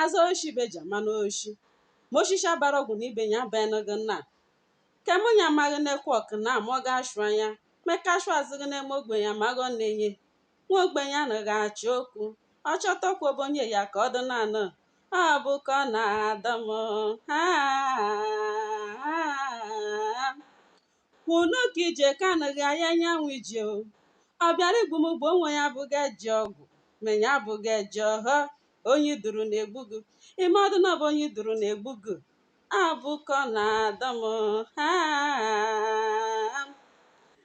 Azụ oshi be ji amanụ oshi. Ma oshishi bara ọgwụ na ibe ya abaghịnụghị nna. Ka mụ ya amaghị na-ekwe ọkụ na ama ọ ga-ashụ anya, ma eka ashụa azụghị na-eme ogbenye amaghị ọ na-enye. Nwa ogbenye anaghị achọ okwu, ọ chọta okwu ọ bụ onye ya ka ọ dị na-anọ. Ọ bụ ka ọ na-adọ m. Ha, ha, ha. Kwunu ka ije ka anaghị aya anyanwụ ije o. Ọ bịara igbu m gbuo onwe ya abụghị eji ọgwụ, ma ya abụghị eji ọhọ. Onye i duru na-egbu gị. Ime ọdụ na ọ bụ onye i duru na-egbu gị. Abụkọ na-adọ m ha.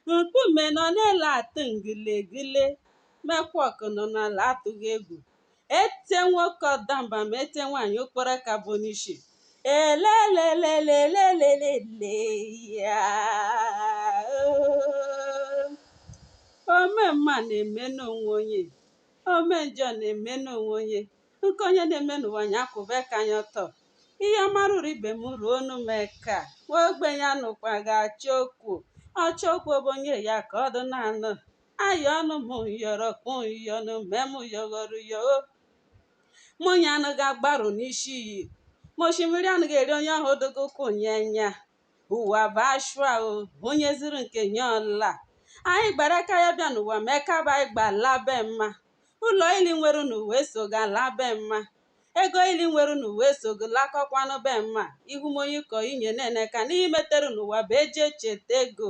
Nkume nọ n'elu atụ ngịlịgịlị, ma ekwa ọkụ nọ n'ala atụghị egwu. ete nwoke ọdamba ma ete nwaanyị okporo aka bụ n'ishi elelelelelelelele ya ome mma na-eme n'onwe onye ome njọ na-eme n'onwe onye nke onye na-eme n'ụwa nya kwụba aka nya ọtọ ihe ọma ruru ibe m ruonu m eka nwa ogbenye anakwaghị achọ okwu ọ chọọ okwu ọ bụ onye ya ka ọ dị na-anụ ayọnụ m yọrọ kpụ yọnụ mee m yọghọrọ yo minyi anaghị agbarụ n'ishi iyi ma oshimiri anaghị eri onye ọ hụdịghị ụkwụ nya enya ụwa bụ ashụa o onye zụrụ nke nya ọ laa anyị gbara aka ya bịa n'ụwa ma eka bụ anyị gba laa be mma ụlọ ile i nwere n'ụwa esoghị alaa be mma ego ile i nwere n'ụwa esoghị lakọkwanụ be mma ihu m onye kọ inye na-eneka na ihe i metere n'ụwa bụ eji echeta gị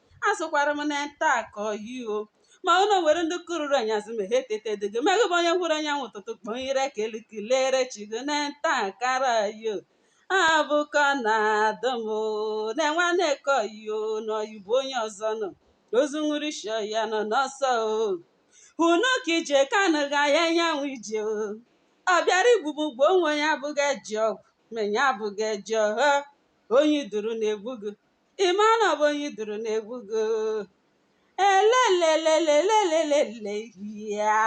asụkwara m na nta akọ yi o ma ụlọ nwere ndị kururu anyasị ma ha etetedịghị ma gị bụ onye hụrụ anyanwụ ụtụtụ kpọlire eka elu kelere chi gị na nta akara yi o abụkọ na-adị m o na nwanne ka ọyị o na ọyị bụ onye ọzọ na ozu nwụrụ ishi ọyị anọ n'ọsọ o hụnụ ka ije kanụ ga ya anyanwụ ije o ọ bịara igbu m gbuo onwe ya abụghị eji ọgwụ ma ya abụghị eji ọhọ onye i duru na-egbu gị ị ma na ọ bụ onye i duru na-egbu gị elelelelelelelele ya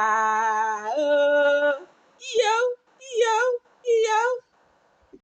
o iyo iyo iyo